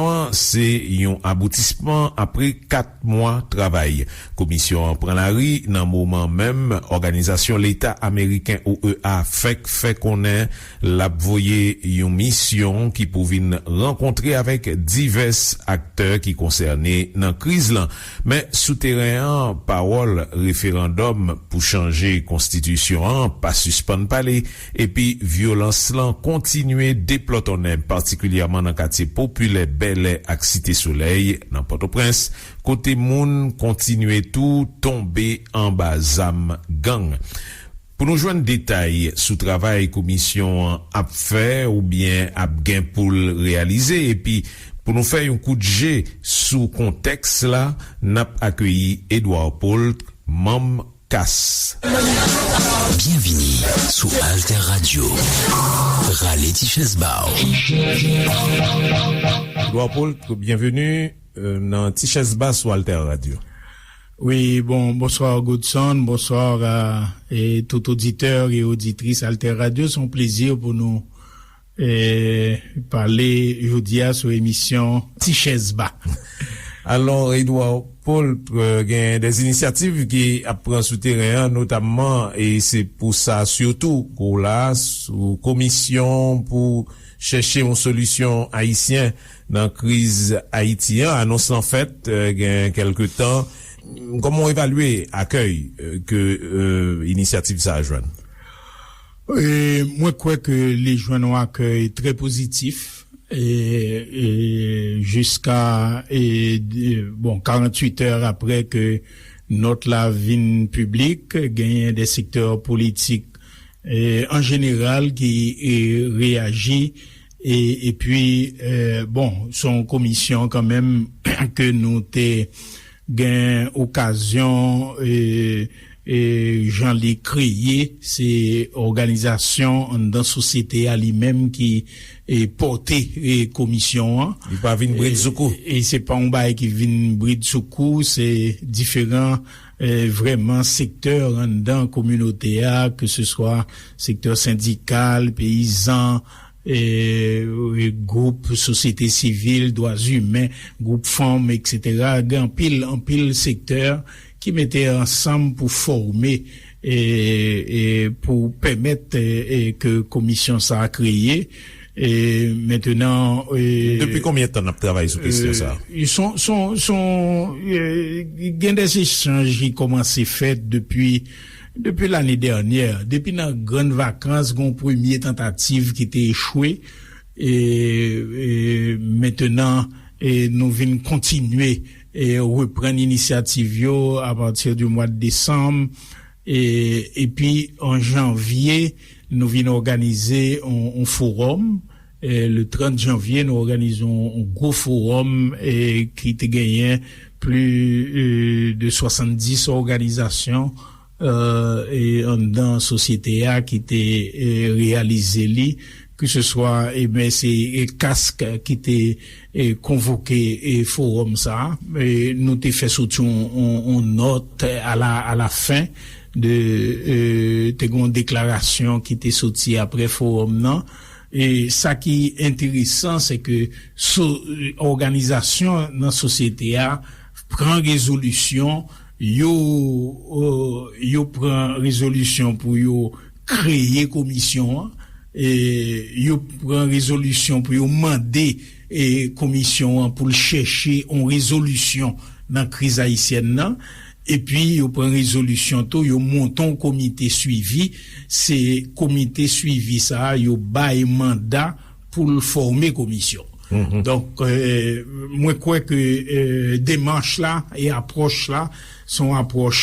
Desizyon an se yon aboutisman apre 4 mwa travay. Komisyon an pran lari nan moman menm Òganizasyon Leta Ameriken, OEA, fèk fè konnen l ap voye yon misyon ki pou vin rankontre avèk divès aktè ki konsène nan kriz lan. Men, sou teren an, pawòl referandòm pou chanje konstitisyon an pa sispann pale. Epi vyolans lan kontinye deplòtonnen patikilyèman nan katye popilè Bèlè ak Site Solèy nan Pòtoprens, kote moun kontinye tou tonbe anba zam gang. Pou nou jwenn detay sou travay komisyon an ap fè oubyen ap gen pou l reyalize epi pou nou fè yon kout je sou kontèks la, n ap akeyi Edouard Paul, manm Kas. Byenvini sou Alter Radio. Rale ti chèz ba w. Edouard Poult, byenveni nan ti chèz ba sou Alter Radio. Wi, bon, bonsoir Godson, bonsoir a tout auditeur et auditrice Alter Radio. Son plezi pou nou. pale jodi a sou emisyon Ti chèz ba. Alon Edouard Paulp gen des inisyativ ki ap pran sou teren an notamman e se pou sa sitou ke w la sou komisyon pou chèche yon solisyon ayisyen nan kriz Ayiti an. Anons lan fèt gen kelke tan. Koman w evalye akèy ke inisyativ sa a jwenn? Mwen kwè ke li jwenn yon akèy trè pozitif jiska 48 è aprè ke nòt la vin piblik. Genyen de sektè politik an jeneral ki reyaji. E pi bon se yon komisyon kan menm ke nou te gen okazyon jan li kreye se òganizasyon anndan sosyete a li menm ki pòte komisyon an. Li pa vin brid sou kou. E se pa yon bagay ki vin brid sou kou se diferan vrèman sektè anndan kominote a ke se swa sektè sendikal, peyizan. gwoup sosyete sivil, dwa imen, gwoup fanm etc. Gen anpil anpil sektè ki mete ansanm pou fòme e pou pèmèt ke komisyon sa a kreye. Mentenan. Depi konbyen tan n ap travay sou kesyon sa a? Son. Gen de echanj ki kòmanse fèt depi. Depi lane dènyè, depi nan grann vakans gon premye tantativ ki te echwe e mentenan nou vin kontinye reprann inisyativ yo apati di mwad desanm epi an janvye nou vin òganize yon forum. Le 30 janvye nou òganize yon gwo fowòm ki te genyen pli de 70 òganizasyon anndan sosyete a ki te reyalize li. Ke se swa se CASC ki te konvoke fowòm sa a. Nou te fè soti yon nòt a la fen de te gen yon deklarasyon ki te soti apre fowòm nan. E sa ki enteresan se ke so òganizasyon nan sosyete a pran rezolisyon, yo yo pran rezolisyon pou yo kreye komisyon an, yo pran rezolisyon pou yo mande komisyon an pou l chèche yon rezolisyon nan kriz ayisyèn nan, Epi yo pran rezolisyon tou yo monte yon komite swivi, se komite swivi sa a yo bay manda pou l fòme komisyon. Donk mwen kwè ke demanch la e apwòch la se yon apwòch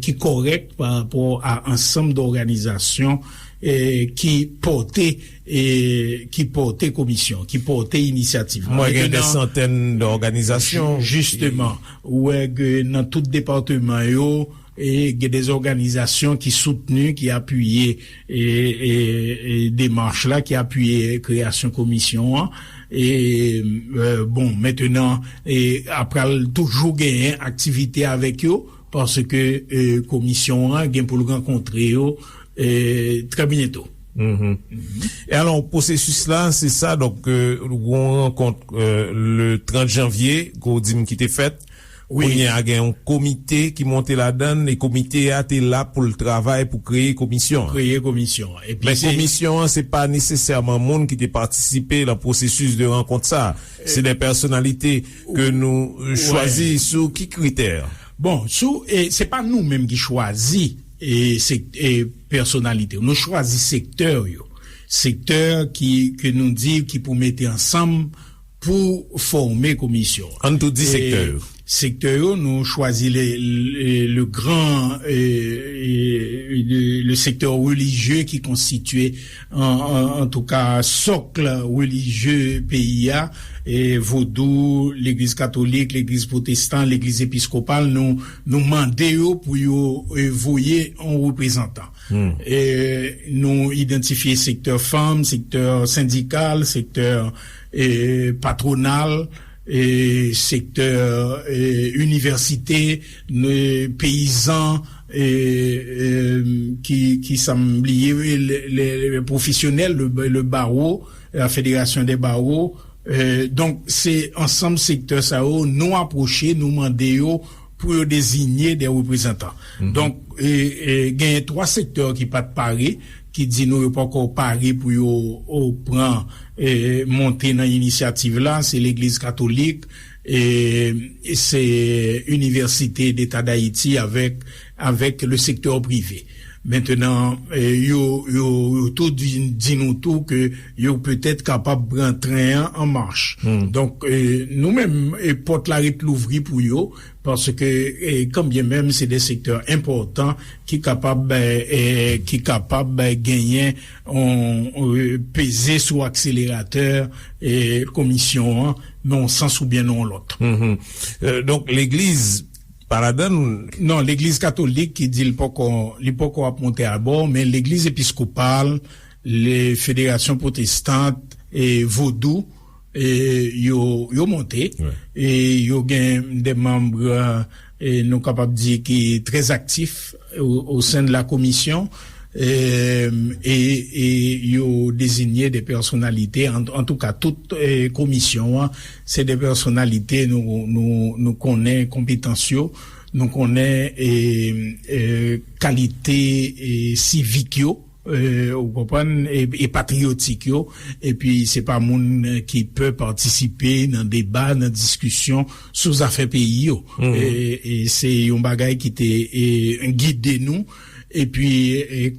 ki kòrèk parapò a ansanm dòganizasyon ki pòte. E ki pòte komisyon, ki pòte inisyativ la. Mwen gen de santèn de òganizasyon. Jisteman, ou wè ke nan tout departeman yo, gen de òganizasyon ki soutni, ki apiye demach la, ki apiye kreyasyon komisyon an. E bon, mentenan, a pral toujou genyen aktivite avèk yo, paske komisyon an gen pou l rankontre yo trè byento. E alò pwosesis la se sa donk yon rankont le 30 janvye kou di m ki te fèt kounye a gen yon komite ki monte la dan e komite a te la pou l travay pou kreye komisyon men komisyon an se pa nesesèman moun ki te patisipe lan pwosesis de rankont sa se de pèsonalite ke nou chwazi sou ki kritè bon sou se pa nou menm ki chwazi e se. Pèsonalite yo. Nou chwazi sektè yo. Sektè ki, ke nou di, ki pou mete ansanm pou fòme komisyon an. Ann tou di sektè yo. Sektè yo, nou chwazi le, le gran, le sektè relijye ki konstitye, antouka, sokl relijye peyi a, Vodou, Legliz Katolik, Legliz Pwotestan, Legliz Episkopal, nou. Nou mande yo pou yo voye yon reprezantan. Nou idantifye sektè fanm, sektè sendikal, sektè patronal, sektè inivèsite, peyizan, ki sa m bliye, pwofesyonèl, le baro, la federasyon de baro, Donk se ansanm sektè sa yo nou apwoche, nou mande yo pou yo dezinye de reprezantan. Donk genyen 3 sektè ki pat pare, ki di nou yo poko pare pou yo pran monte nan inisyativ la, se legliz katolik, Se Université d'Etat d'Haïti avèk le secteur privé. Mentenan, yo tout vin di nou tou ke yo petèt kapab pran tren an an mach. Donk, nou menm, pòt la ret louvri pou yo, paske kanbyen menm se de sektè enpòtan ki kapab genyen peze sou akseleratè komisyon an nan yon sans ou byen nan yon lòt. Donk legliz pa ladann? Non, legliz katolik ki di li poko ap monte abò, men legliz episkopal, federasyon pwotestant, vodou, Yo monte e yo gen de manbre nou kapab di ki trè aktif o sen de la komisyon e yo dezigne de pèsonalite. An tou ka tout komisyon an se de pèsonalite nou konnen konpetans yo, nou konnen kalite sivik yo. Ou konprann, e patriyotik yo, epi se pa moun ki pe patisipe nan deba, nan diskisyon sou zafè peyi yo. E se yon bagay ki te gide nou, epi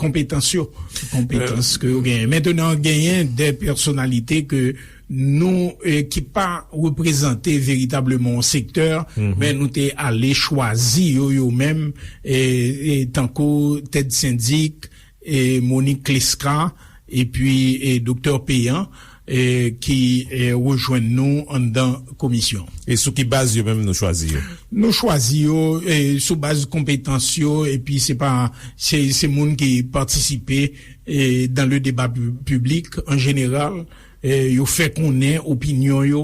konpetans yo, konpetans ke yo genyen. Mentenan genyen de pèsonalite ke. nou ki pa reprezante veritableman yon sektè men nou te ale chwazi yo yo menm tankou Ted Syndic, Monique Clesca epi Doktè Péan ki rejwenn nou anndan komisyon. E sou ki baz yo menm nou chwazi yo? Nou chwazi yo sou baz konpetans yo epi se pa se moun ki patisipe dan le deba piblik an jeneral. yo fè konnen opinyon yo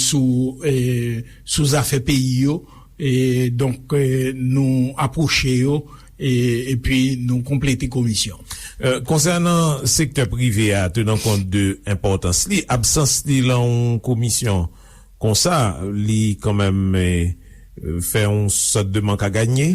sou zafè peyi yo, donk nou apwoche yo epi nou konplete komisyon. Konsènan sektè prive a, tenan kont de enpòtans li, absans li lan yon komisyon konsa, li kanmenm fè yon sòt de mank a ganye?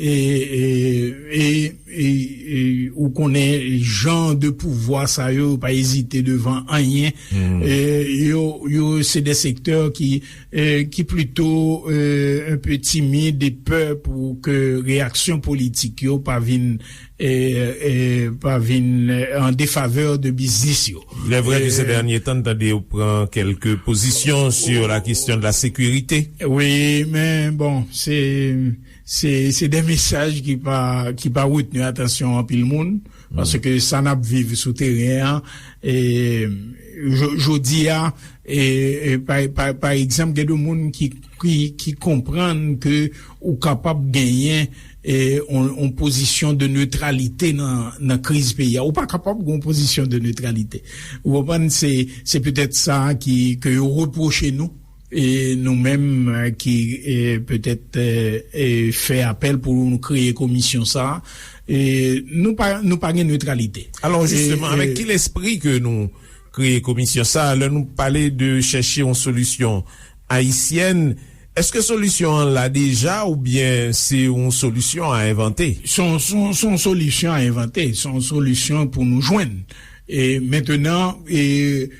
Eee ou konnen jan de pouvwa sa yo pa ezite devan anyen yo se de sektè ki plito un peu timid e pè pou ke reyaksyon politik yo pa vin en defaveur de biznis yo. Le vre ki se dernye tan tande yo pran kelke pozisyon sur la kestyon de la sekurite. Oui men bon se. Se de mesaj ki pa retni atansyon anpil moun, paske sa n ap viv sou teren an, jodi a, pa egzanp, gen de moun ki konprann ke ou kapab genyen yon pozisyon de neutralite nan kriz peyi a. Ou pa kapab gen yon pozisyon de neutralite. Ou konprann, se petèt sa ke yo repwoche nou. E nou menm ki petèt fè apèl pou nou kreye komisyon sa a, nou pa gen netralite. Alò, jisteman, avèk ki lespri ke nou kreye komisyon sa a? Lè nou pale de chèche yon solisyon ayisyèn, èske solisyon an la deja oubyen se yon solisyon a envante? Se yon solisyon a envante, se yon solisyon pou nou jwenn. Mentenan, e.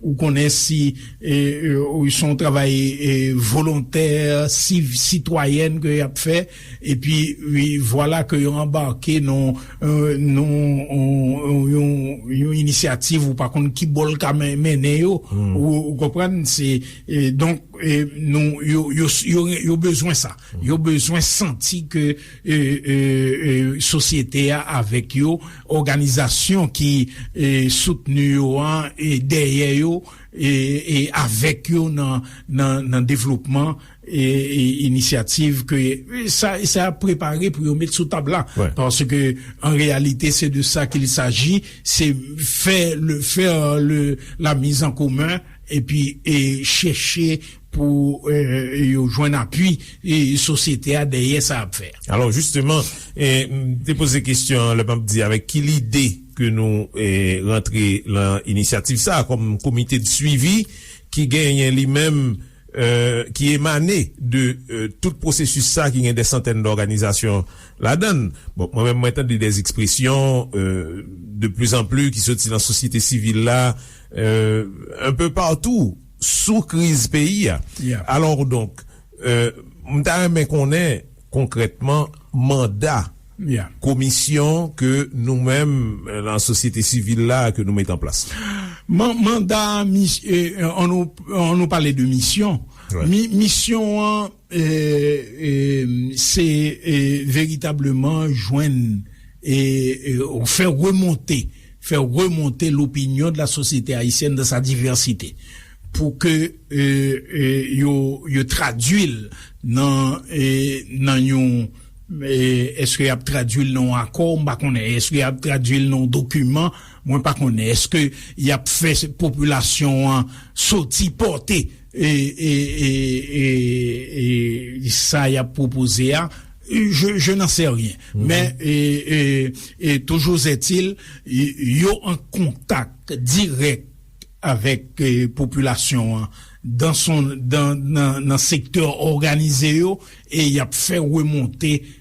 Ou konnen si son w travay volontè, siv, sitwayèn ke y ap fè, epi vwala ke yo anbake nan yon inisyativ ou pa konn ki bò l ka mennen yo, ou konprann? Se, donk, nou, yo bezwen sa. Yo bezwen santi ke sosyete a avèk yo. òganizasyon ki soutni yo an e dèyè yo e avèk yo nan devlopman inisyativ ke sa ap prepare pou yo met sou tab la. Paske an reyalite se de sa ke li saji, se fè la mizankomen epi chèche pou yo jwenn apui sosyete a dèyè sa yap fè a. Alò jisteman, m te poze kesyon an lè map di avèk ki lide ke nou rantre lan inisyativ sa a kòm komite de swivi ki genyen li menm ki emane de tout pwosesis sa a ki gen de santèn de òganizasyon ladann. Bon, mwen menm mwen tande de ekspresyon de pli zan pli ki soti lan sosyete sivil la un peu partout sou kriz peyi a. Alor donk, m ta renmen konnen konkrètman manda komisyon ke nou menm lan sosyete sivil la ke nou met an plas la. Manda, an nou pale de misyon, misyon an. Se veritableman jwenn e fè remonte, fè remonte l'opinion de la société haïtienne dans sa diversité. Pou ke yo traduil nan yon, eske yap traduil nan yon akò, mpa konnen, eske yap traduil nan yon document, mwen pa konnen, eske yap fè populasyon an soti porte. e sa yap pwopoze a je nan se ryen men e toujou zètil yo an kontak dirèk avèk popilasyon an nan sektè òganize yo e yap fè remonte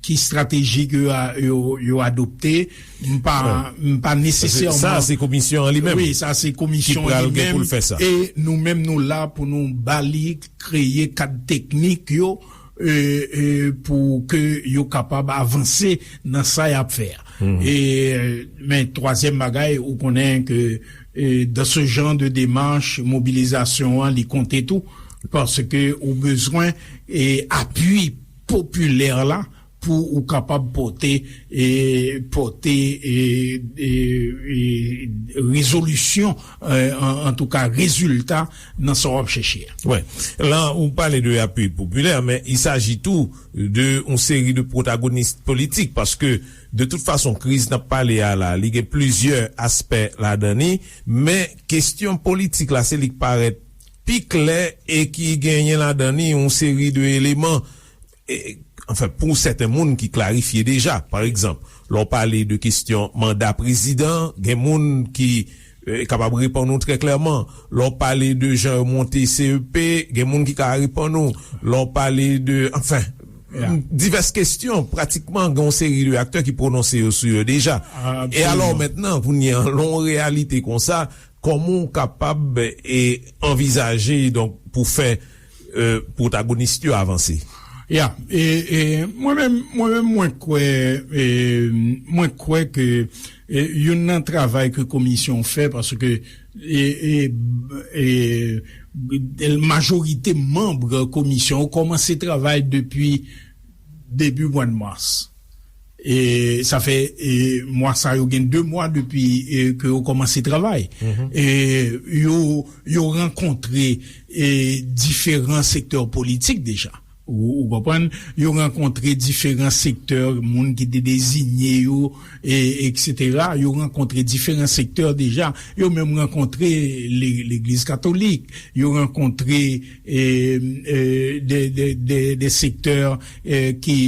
Ki strateji ke yo adopte, m pa, m pa nesesèman. Sa a se komisyon an li menm. Wi, sa a se komisyon an li menm. Ki pral gen pou l fè sa. E nou menm nou la pou nou ba li kreye kad teknik yo pou ke yo kapab avanse nan sa y ap fè a. E men twazyèm bagay ou konnen ke dan se jan de demach mobilizasyon an li konte tou paske ou bezwen apwi. popilè la pou ou kapab pote pote rezolisyon antouka rezilta nan sa w ap chèche a. Wi, la ou pale de apui popilè men i saji tou de yon seri de pwotagonis politik paske de tout fason kriz n ap pale a la li gen plizyè aspè ladan li men kestyon politik la se li k parèt pi klè e ki genyen ladan li yon seri de eleman, anfen pou sèten moun ki klarifye deja. Pa egzanp, lè w pale de kestyon manda prezidan, gen moun ki kapab reponn ou trè klèman. Lè w pale de jan yo monte CEP, gen moun ki ka reponn ou. Lè w pale de, anfen, divès kestyon, pratikman gen yon seri de aktè ki pwononse yo sou yo deja. E alò, mentnan, kounye an, lè yon reyalite konsa, Kòman w kapab e anvizaje donk pou fè pwotagonist yo avanse? Ya, e mwen menm, mwen menm mwen kwè, e mwen kwè ke youn nan travay ke komisyon fè, paske e majorite manbre komisyon kòmanse travay depi debi mwad mas. Sa fè mwa sa yo gen 2 mwa depi ke yo kòmanse travay. Yo rankontre diferan sektè politik deja. Ou konprann? Yo rankontre diferan sektè moun ki te dezinye yo, eksetera. Yo rankontre diferan sektè deja. Yo menm rankontre legliz katolik. Yo rankontre... de sektè ki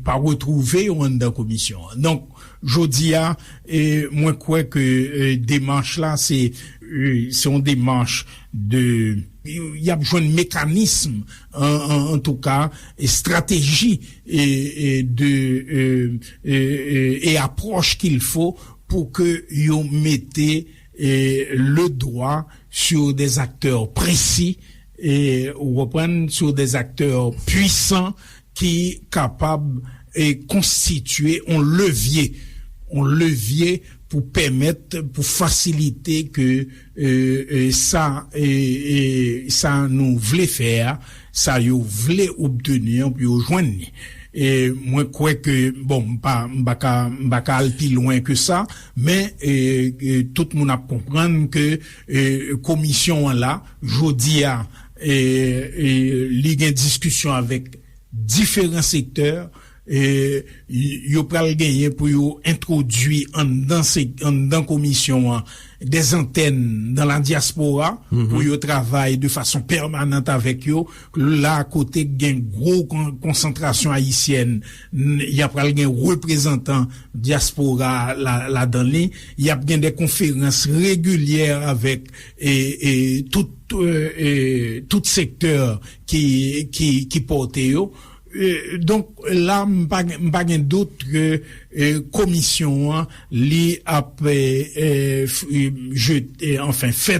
pa retwouve yo anndan komisyon an. Donk, jodi a, mwen kwè ke demach la se yon demach de, y ap jwenn mekanism, an tou ka, estrateji e apwòch kilfo pou ke yo mete. le dwa sou dè aktè presi ou konprann sou dè aktè pwisan ki kapab konstitye on levye on levye pou pèmèt pou fasilite ke sa sa nou vle fè a sa yo vle obteni an pou yo jwenn ni mwen kwè ke bon m pa ka m pa ka al pi lwen ke sa. Men tout moun ap konprann ke komisyon an la jodi a li gen diskisyon avèk diferan sektè yo pral genyen pou yo entwodui anndan komisyon an de zantèn nan la dyaspora pou yo travay de fason pèmanant avèk yo la kote gen gwo konsantrasyon ayisyèn. ya pral gen reprezantan dyaspora ladan li, yap gen de konferans regilyè avèk tout sektè ki pòte yo. Donk la m pa gen dout ke komisyon an li ap fè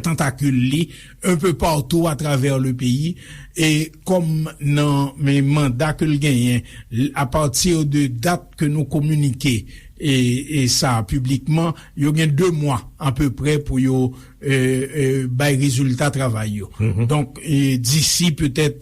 tantakil li. un peu partout à travers le pays et kòm nan men manda ke l genyen à partir de date ke nou kominike e sa publiquement yo gen 2 mwa à peu près pou yo bay rezilta travay yo donk d'ici peut-être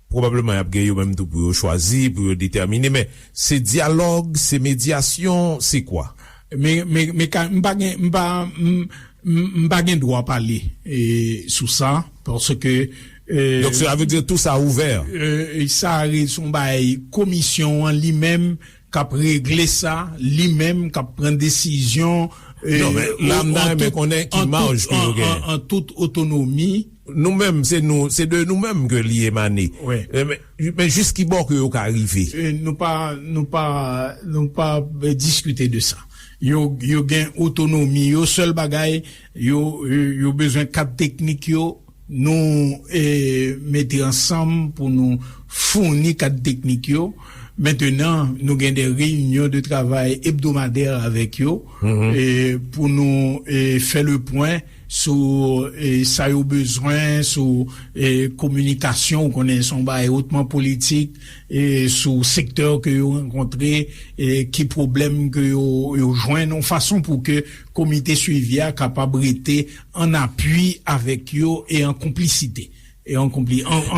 Pwobableman y ap gen yo menm tou pou yo chwazi, pou yo detèmine, men se dyalòg, se medyasyon, se kwa? Me, me, me ka, m pa gen, m pa, m, m, m pa gen dwa pale sou sa, paske, e. Donk sela vle di tou sa ouvè? E, e sa re, son bagay komisyon an li menm. kap regle sa li menm kap pran desizyon Non men la m ta renmen konnen ki maj ke yo gen. an tout otonomi. Nou menm se nou se de nou menm ke li emane men jis ki bò ke yo ka rive. Nou pa nou pa nou pa diskite de sa yo yo gen otonomi yo sèl bagay yo yo bezwen kad teknik yo. Nou mete ansanm pou nou founi kad teknik yo. Mentenan, nou gen de reyinyon de travay ebdomadè avèk yo pou nou fè le pwen sou sa yo bezwen, sou kominikasyon, ou konnen se yon bagay otman politik, sou sektè ke yo rankontre, ki pwoblèm ke yo jwenn, yon fason pou ke komite swivi a kapab rete an apui avèk yo e an konplisite. Donk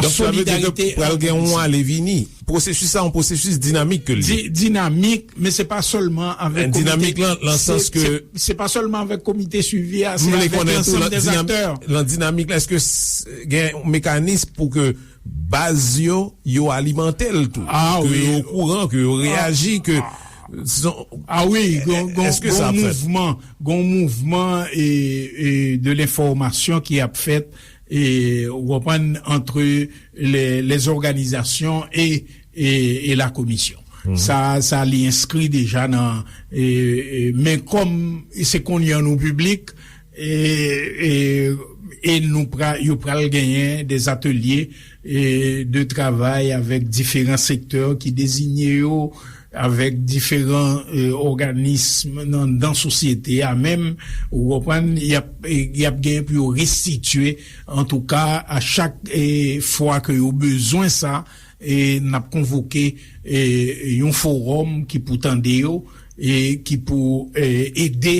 sa vle di ke pral gen yon ale vini. Pwosesis sa yon pwosesis dinamik ke l ye. Dinamik, men se pa sèlman avèk komite. Dinamik lan nan sans ke. Se pa sèlman avèk komite suivi a, se avèk lansanm de aktè. Lan dinamik la, eske gen yon mekanism pou ke. Baz yo, yo alimante l tou. Ke yo okouran, ke yo reyaji, ke son. A wi, gon mouvman de lenfòmasyon ki ap fèt, ou konprann, antre les organizasyon e la komisyon. Sa, sa li enskri deja nan, men kòm se konye an nou piblik. e nou pral yo pral genyen des ateliers de travail avèk diferan sektè ki dezinye yo avèk diferan òganism nan dan sosyete a menm ou konprann yap yap genyen pou yo restitye antouka a chak fwa ke yo bezwen sa e nap konvoke yon forum ki pou tande yo e ki pou ede.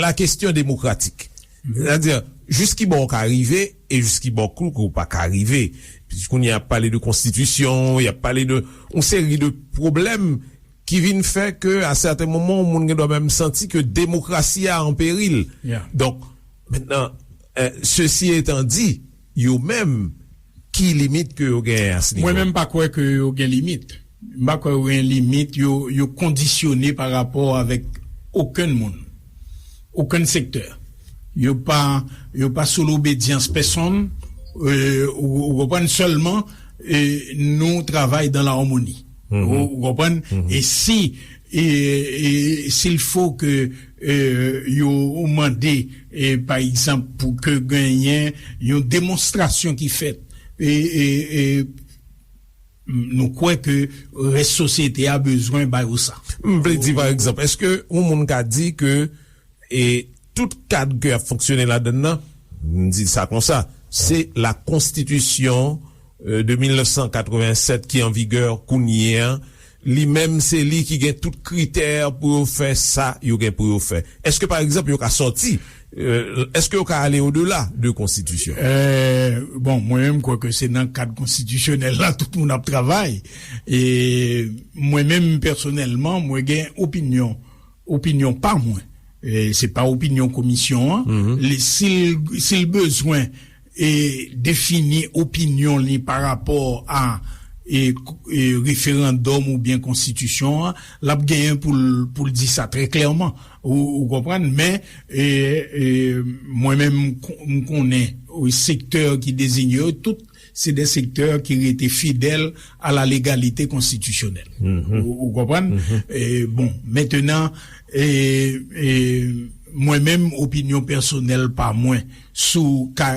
La kestyon demokratik. Sètadi, jis ki bò ou ka rive e jis ki bò kou ou pa ka rive. Pis kounye a pale de konstitisyon, y ap pale de yon seri de pwoblèm ki vin fè ke a sèten moman yon moun gen dwa menm santi ke demokrasi a an peril. Donk, mentenan, sesi etan di. yo menm ki limit ke yo genyen a se nivo? Mwen menm pa kwè ke yo gen limit. M pa kwè yo gen limit. Yo kondisyone pa rapò avèk okenn moun, okenn sektè. Yo pa, yo pa sou lobedyans pèsonn. Ou konprann? Sèlman nou travay dan la harmonie. Ou konprann? E si E s'il faut ke yo mande pa egzanp pou ke genyen yon demonstrasyon ki fèt, nou kwè ke rès sosyete a bezwen ba yo sa. M vle di pa egzanp, eske yon moun ka di ke tout kad ke ap fonksyone ladann nan, m di sa konsa, se la konstitisyon de 1987 ki an vigè kounye an Li menm se li ki gen tout kritè pou yo fè sa yo gen pou yo fè. Eske pa egzanp yo ka sòti, eske yo ka ale odela de konstitisyon? Bon, mwen menm kwè ke se nan kad konstitisyonèl la tout moun ap travay. E mwen menm pèsonèlman mwen gen opinyon, opinyon pa mwen. Se pa opinyon komisyon an. Sil bezwen. E defini opinyon li pa rapò a referandòm oubyen konstitisyon an, l ap genyen pou l di sa trè klèman. Ou konprann? Men, mwen menm m konnen sektè ki dezinye yo, tout se de sektè ki rete fidèl a la legalite konstitisyonèl. Ou konprann? Bon, mentenan, mwen menm opinyon pèsonèl pa mwen, Sou ka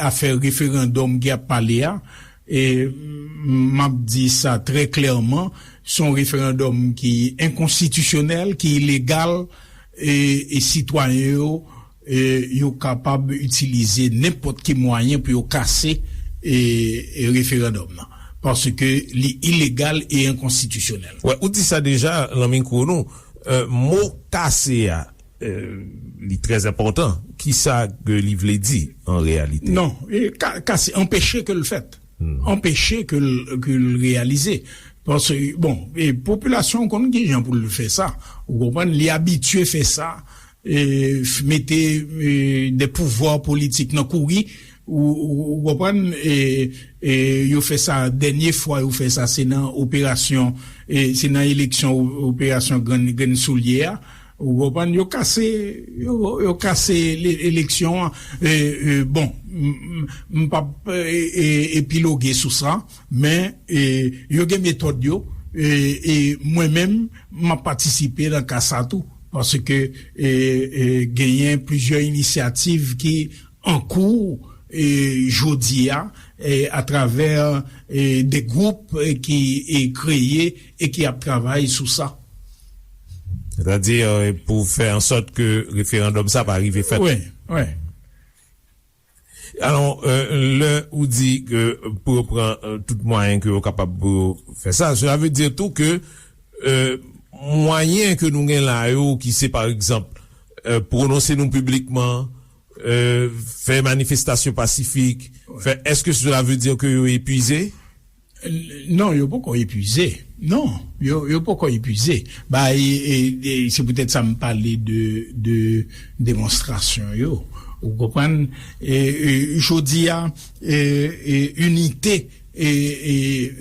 afè referandòm ki ap pale a, m ap di sa trè klèman, se yon referandòm ki enkonstitisyonèl, ki ilegal, e sitwayen yo, yo kapab itilize nenpòt ki mwayen pou yo kase referandòm nan, paske li ilegal e enkonstitisyonèl. Ou di sa deja nan mikwo nou, mo kase a. Li trè enpòtan. Ki sa ke li vle di an reyalite? Non. Ka se anpeche ke l fèt. Anpeche ke l reyalize. Paske, bon, popilasyon konn ki jan pou l fè sa. Ou konprann? Li abitye fè sa. Mete de pouvwa politik nan kouri. Ou konprann? Yo fè sa dènye fwa yo fè sa se nan operasyon, se nan eleksyon operasyon grenn soulye a. Ou konprann, yo kase, yo kase eleksyon an. Bon, m p ap epiloge sou sa, men yo gen metòd yo, e mwen menm m ap patisipe nan ka sa tou, paske genyen plizyè inisyativ ki an kou jodi a, atravè de gwoup ki kreye E ki ap travay sou sa. Sètadi pou fè ansòt ke referandòm sa pa rive fèt. Wi, wi. Alon, lè ou di ke pou yo pran tout mwayen ke yo kapab pou yo fè sa, sèla vle di tou ke mwayen ke nou gen la yo ki se pa egzanp prononse nou piblikman, fè manifestasyon pasifik, fè, eske sèla vle di ke yo epuize? Non, yo poko epuize. Non, yo poko epuize. Bay, se poutèt sa m pale de demonstrasyon yo. Ou konprann? Jodi a, inite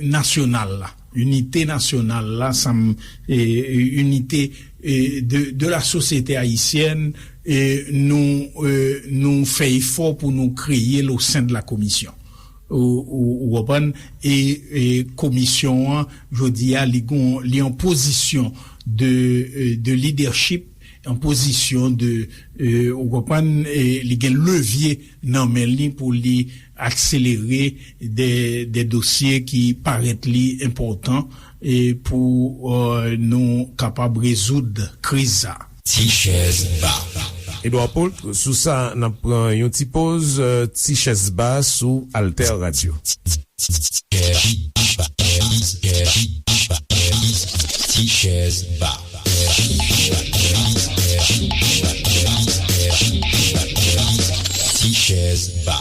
nasyonal la, inite nasyonal la, sa m, inite de la sosyete ayisyèn, nou fè efò pou nou kreye l o sen de la komisyon. Ou konprann? E komisyon an jodi a li gon, li an pozisyon de, de lidèchip, an pozisyon de, ou konprann, li gen levye nan men li pou li akselere de, de dosye ki parèt li enpòtan pou nou kapab rezoud kriz sa a. Ti chèz ba. Edouard Paultre sou sa nap pran yon ti poz ti chèz ba sou Alter Radio. Ti chèz ba. Ti chèz ba.